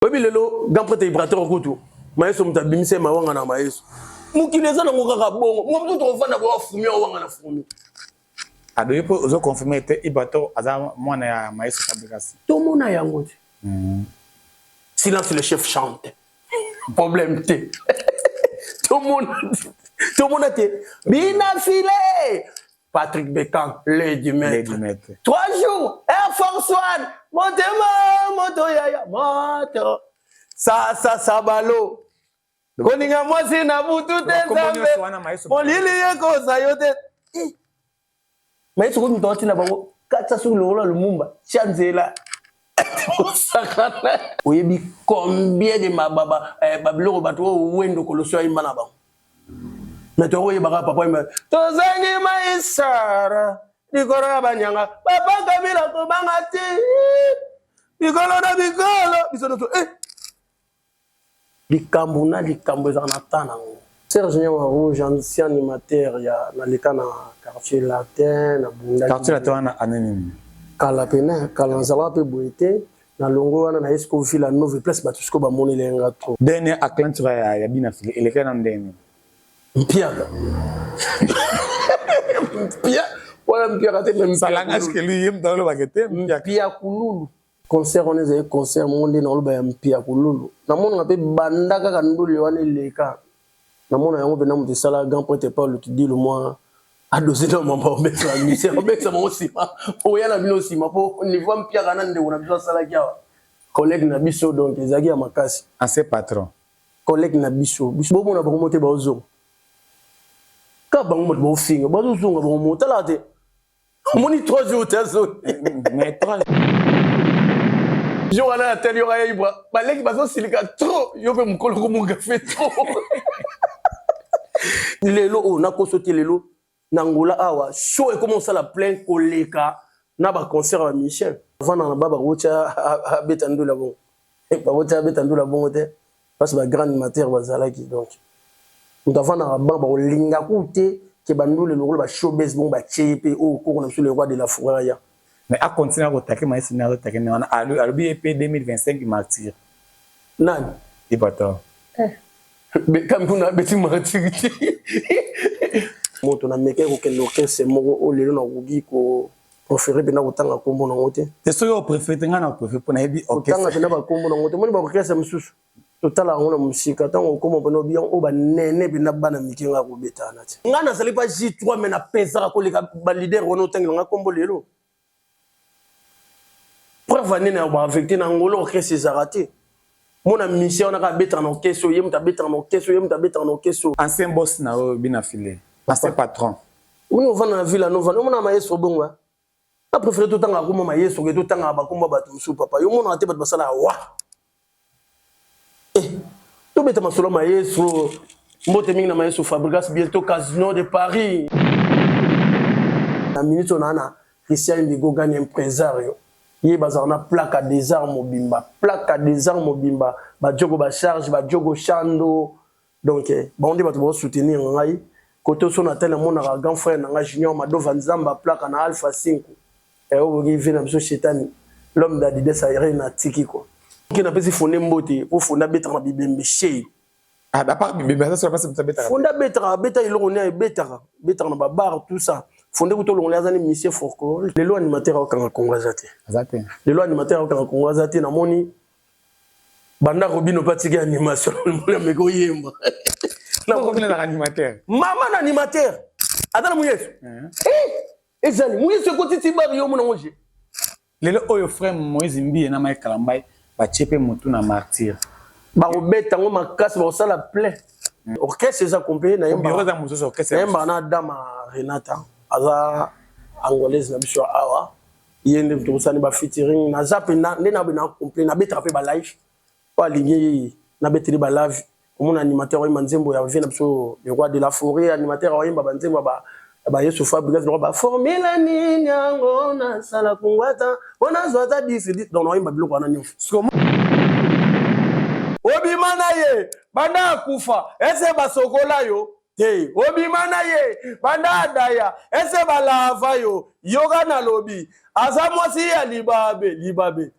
oyebi lelo grand prêtre ibrator kutu mayeso moto abimisa ye mawanga na mayeso mokili eza nango kaka bongo motu tokofanda boa fumi awanga na fumi adoki mpo ozo confirme ete ibrator aza mwana ya mayeso fabrikasi tomona yango te hmm. silence le chef chante problème te tomona tomona te bina file Patrick Beckham, l'œil du maître. Trois jours, Air Force One, motema, moto yaya, moto. Sa sa sa balo. Koninga mwasi na butu te nzambe. Molili ye koza yo te. Mais soki moto atina bango katisa soki lokola lumumba tia nzela Oyebi combien de ma ba ba eh, ba biloko bato oyo wendo kolosio ayimba na bango mais toko yebaka papa yimba tozangi maisara likolo ya banyanga papa kabila kobanga ti bikolo na bikolo biso nyonso eh Likambo na likambo ezalaka na temps na ngo. Serge Niama Rouge, ancien animateur ya na leka na quartier latin, na bundaki. Quartier latin wana annee nini? Kala pena, kala na zalaka pe boye te. Na longwe wana na ye siko Villa Nove place batu siko ba monela ye nga trop. Dernier aclenture ya ya Bina Fili elekaki nanu ndenge nini? Mpiaka. Mpia wana mpiaka te mais Mpiakululu. Salanga ce que lui ye mutu aloba ke te mpiaka. Mpiakululu. Concert wana ezali concert moko nde naoloba ya mpiakululu. Namonaka mpe banda kaka ndule wana eleka. Namona yango mpenza moto esala grand prêtre Paul Kidilu mwa adoze na mamba obekisa bamisi obekisa bango nsima oya na bino nsima mpo niveau ya mpiaka na ndeko na biso asalaki awa collègue na biso donc ezalaki ya makasi. Ancien patron. Collègue na biso biso bomona bango mote baozonga kaka bango moto baofinga bazozonga bango motalaka te omoni trois jours te azoni jour wana na tali yoka yaibra baleki bazosilika trop yo mpe mokolo komongafe trop lelo oyo oh, nakoso te lelo na ngola awa show ekoma osala plein koleka na baconcert ya michel avanda na ba bakotya abeta ndula bongo bakotya abeta ndula bongo te Basi ba grand animateur bazalaki donc mutu avandaka banc bakolinga kutu te ke ba ndule lokola ba show buzz bongo batie ye pe oyo koko na biso le roi de la fourre aya. Mais a continuer ko taquer maestro ndenge azo taquer ndenge wana alobi ye pe 2025 martyr. Nani? Ipator. Eh. Beckham kuna abeti martyr te. Moto na mekaki kokende orchestre moko oyo lelo nakoki ko prefere mpe nakotanga nkombo nango te te soki oprefere te ngai na prefere mpo nayebi otanga mpe na bankombo nango te moni baorkestre mosusu totala yango na mosika ntango okoma mpona obi yango oyo banene mpenza bana mike ngai akobetana te ngai nazali pa j3 me napesaka koleka balider wana otangela ngai nkombo lelo preuve anene ya baavecte na ngolo orkestre ezalaka te mona musicien wana kaka abetaka na orchestre oyo ye moto abetaka na orchestre oyo ye moto abetaka na orchestre oyo ancien boss na yo bina file ancien patron oui ovanda na ville anovanda omona maestro bongo na préféré totangaka kombo maestro ke totangaka bakombo ya bato mosusu papa yo omonaka te bato basalaka wa eh, tobeta masolo ya maestro mbote mingi na maestro fabrigas bientôt casino de paris na minute oyo naa na christian indigo gani impresario Ye bazalaka na plaka des arts mobimba, plaka des arts mobimba, ba Djogo ba charge, ba Djogo Shando, donc bango nde bato bao soutenir ngai, cote oyo soki na tali na monaka grand frère na ngai Junior Mado Van Zamba plaka na Alpha Cinco, eh oyo boki vie na biso shetani, l'homme d'Adidas Aire na tiki quoi. Ok na pesi Fonde mbote, po Fonde abetaka na bibembe chez. Ah, à part bibembe aza solo basi moto abetaka. Fonda betaka abeta eloko ne ebetaka betaka na babar tout ça. Fonde kuto longola aza ni monsieur Forco. Lelo animateur akanga Kongo aza te. Aza te. Lelo animateur akanga Kongo aza te namoni banda robino mpe atiki animation mona meka oyemba mama na animateur aza na moyesu ezali moyesu ekotiti bari yo mona ngo je Lelo oyo frère Moïse Mbiye na Mike Kalambay batie pe mutu na martyr. Bakobeta yango makasi bakosala plein. Mm. Orchestre eza complet na yemba. Bureau za mususu orchestre. Na yemba na dama Renata aza angolaise na biso awa. Yende tokosani ba featuring na zape na nde na bena complet na betaka pe ba live. oyo alingi na beteli ba love omona animateur oyemba nzembo ya vie na biso le roi de la foret animateur oyemba ba nzembo ba ba yesu fabrigas lokola ba formula nini yango nasala kungwata mpo nazwa ata disi donc naoyemba biloko wana nyonso obima na ye banda akufa ese basokola yo te obima na ye banda adaya ese balava yo yoka nalobi aza mwasi ya libabe libabe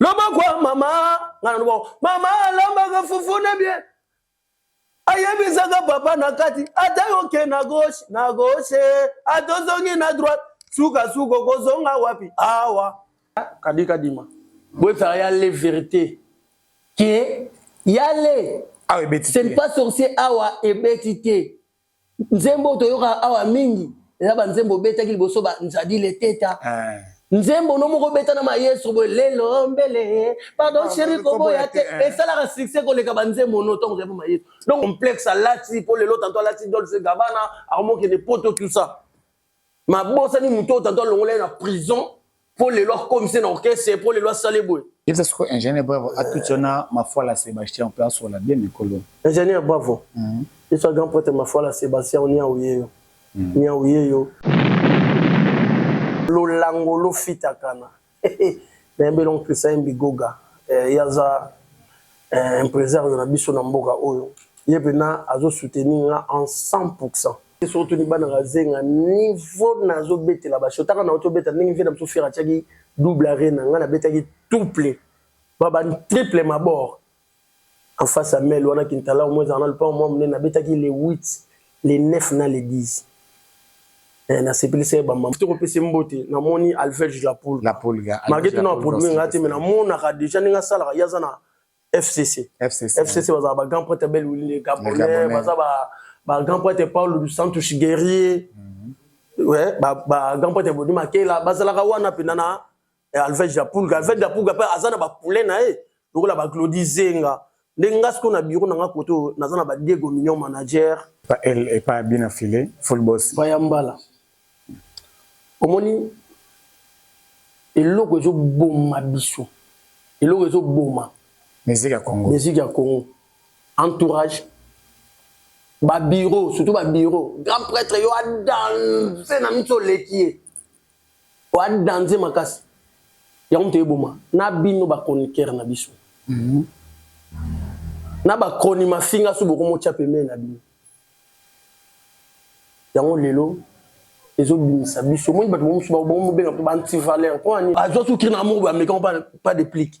Loboko ya mama nga na loboko mama alambaka fufu na bie ayebisaka papa na kati ata yoke na gauche na gauche atozongi na droite sukasuka okozonga wapi awa kadi kadima boyebisaka ya le verité ke yale ah, c'est pas sorcier awa ebeti te nzembo oyo toyoka awa mingi eza banzembo obetaki liboso ba nzadi leteta eh. nzembo no moko obeta na maestro boye lelo mbele pardon ah, sheri koboya te eh. esalaka succès koleka banzembo no ntango ozali maestro donc complexe alati mpo lelo tanto alati dolce gabana akomokende poto tout ça mabosani moto oyo tata alongola ye na prison mpo lelo akomise na orchestre mpo lelo asale boye yebisa soko ingénieur bravo atuti wana mafuala sébastien mpe asola bien mikolo ingénieur bravo mhm. yeso grand prêtre mafuala sébastien oniau yeyo mhm. niau yeyo lolango lofitakana Nayembi elongo Christian Bigoga, ye aza impresario na biso na mboka oyo, ye mpena azo soutenir nga en 100 pour 100. Soki otuni bana Kazenga niveau nazo betela ba show, tango nawuti obeta ndenge vieux na biso Ferre atiaki double arena, nga nabetaki tuple, ba ba triple mabord. en face ya mel wana kintalao moko ezalaka na lopango mwa monene nabetaki le 8 le 9 na le 10 eh, nasepelisa ye bamama te kopese mbote namoni alvege la pulga malgre tuna baprobleme ngai te me namonaka deja ndenge asalaka ye aza na fcc fcc bazala ba grand prêtre bel wille gabonais baza ba grand prêtre paulo du santos guerrier mhm. ba grand prêtre bodi makela bazalaka wana mpenza na eh, alvege ya pulga alvege ya pulga mpe aza na bapoule na ye lokola baglodi zenga nde nga sikoyo na biro na nga kote oyo naza na badiego mignon manager epa bina file fulbos baya mbala omoni eloko ezoboma biso eloko ezoboma musique ya congo musique ya congo entourage babiro surtout babiro grand prêtre yo adanse na miso oleki ye Oa danze makasi. Yango moto eboma na bino ba chroniqueur na biso. Mhm. Na ba chroni mafinga su boko motia pembeni na bino. Yango lelo ezobimisa biso omoni bato mosusu babenga mpe ba antivaleur mpo ani azwa sukiri na amour bameka pas de plique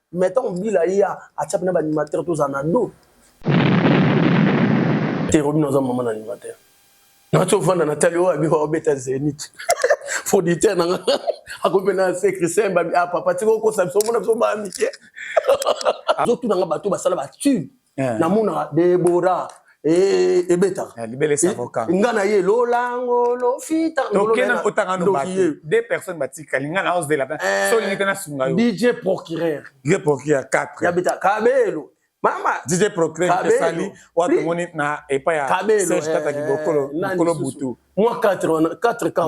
Mais ntango bila ye atia mpena baanimateur tozala na do te robino aza mama na animateur nati ovanda na tali oyo abika obeta zenit producteur na nga akomi mpe na se christian babi a ah, papa tika okosa biso omona biso baa mike azotuna nga bato basala batube eh. namonaka debora eh, ebetaka eh, libele savoka nga na ye lolango lofita tokena kotanga no bato deux personnes batikali nga na ozela solingi te nasunga yo dj procureur dj procureur 4 ya beta kabelo mama dj procureur esali oyo tomoni na epai ya serge tata kibokolo mokolo butu mwa 4 ka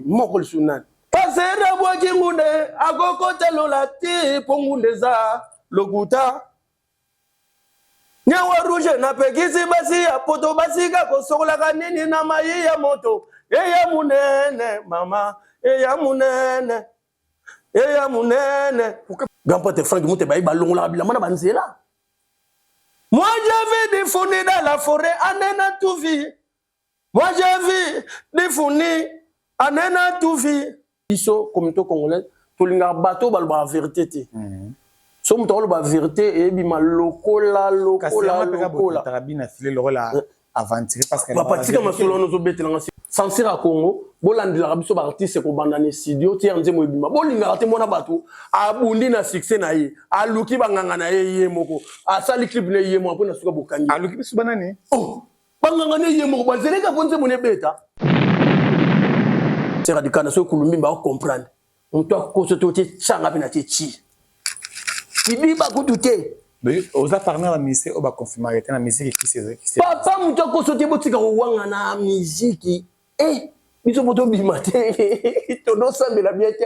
moko lisusu nani pasera bwaki ngunde akokota lola te mpo ngunde eza lokuta Nyawa rouge na pekisi basi ya poto basika kosokolaka nini na mayi ya moto eya munene mama eya munene eya munene grand pote frank mute bayi balongolaka bilamba na banzela moi j'avais des fondés dans la forêt anena tuvi Moi j'ai vu Difuni anena tout vie. Biso communauté congolaise tolingaka bato oyo balobaka verite te. Mhm. So moto akoloba verite eyebima lokola lokola lokola. Eh. Aventure parce que papa tika masolo wana ozobetela nga sansir ya congo bolandelaka biso baartiste kobanda na studio tiere nzembo ebima bolingaka te mwana bato abundi na succès na ye aluki banganga na ye ye moko asali clip na ye moko mpo na suka bokangi aluki biso banani oh! Banganga ne ye moko bazeleka mpo nzembo nebeta. Sera dikana soki kulumbimba o comprendre. Moto akoso to te changa mpe na te chi. Kibiba kutu te. Mais oza parmi la musique oyo oh, ba confirma que na musique qui c'est qui c'est. Papa moto akoso te botika kowanga na musique. Eh biso moto bima te. Tono sambela bien te.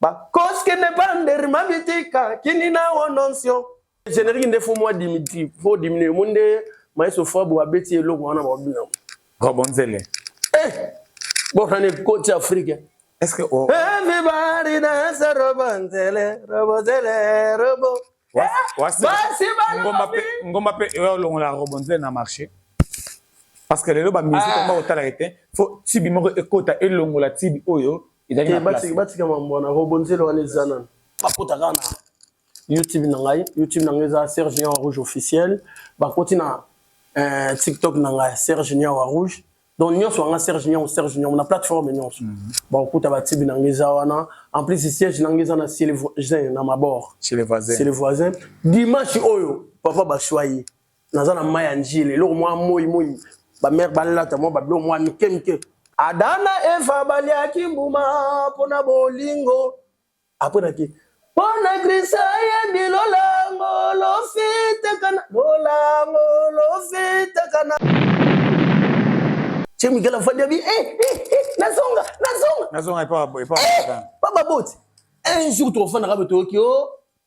Bakoske ne bander mabitika kini na ononsio. Generique nde fo mwa Dimitri fo diminuer mo nde maestro Fabo abeti eloko wana ba bina. Robonzele. Eh bora ne coach Afrique. Est-ce que oh. Everybody dance Robonzele, Robonzele, Robo. Wasi ngomba pe ngomba pe yo longola Robonzele na marché. Parce que lelo ba musique ah. ngomba otala ete fo tibi moko ekota elongola tibi oyo ezali na place batika mambo wana robonzelo wana eza nana bakota kaka na youtube na ngai youtube na ngai eza serge niawa rouge officiel bakoti na eh, tiktok na ngai serge niawa rouge donc nyonso yanga serge niawu serge niawu na plateforme nyonso mm -hmm. bakokuta batibi na ngai eza wana en plus siège na ngai eza na chez le voisin na mabord chez le voisin dimanche oyo papa bashwa ye naza na mai ya njili eloko mwa moi moi bamere balata mwa babiloko mwa mike mike adana eva baliaki mbuma mpo na bolingo apres naki mpo na krista yebi lolango lofitakana lolango lofitakana tie mikela afandi abi eh, eh, eh, nazonga nazonga nazonga epa baboti un jour tokofandaka botoyoki o oh.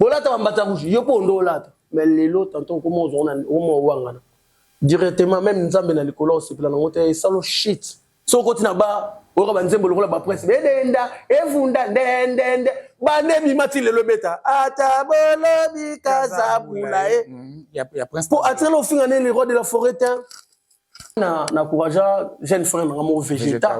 Bolata bambata rouge, yo mpe ondo olata. Mais lelo tanton okoma ozona okoma owangana. Directement même Nzambe na likolo osepela nango te esalo shit. Soki okoti na bar oyoka ba nzembo lokola ba prince bedenda evunda ndendende bande ebima ti lelo ebeta ata bolobi kazabula ye eh. mm, ya prince po atikala ofinga nde le roi de la forêt te na na courage jeune frère na mo vegeta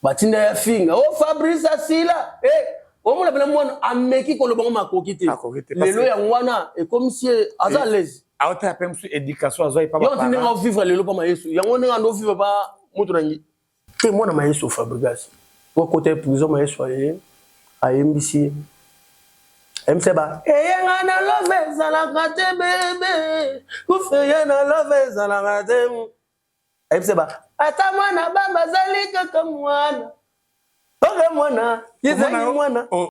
batinda ya finga oh fabrice asila eh omona bela mwana ameki koloba ngo makoki te lelo yango wana ekomisi aza eh, lezi aotala mpe mosusu éducation azwaki pa yo ndenge ovivre lelo mpa ma yesu yango ndenge ando vivre pa moto na ngi Te mwana maestro Fabregas po akota prison maestro aye ayembisi ye ayembisa ba eyenga na love ezalaka te bebe kufeye na love ezalaka te ayebisa ba ata mwana baba azali kaka mwana oke mwana ezali mwana oh.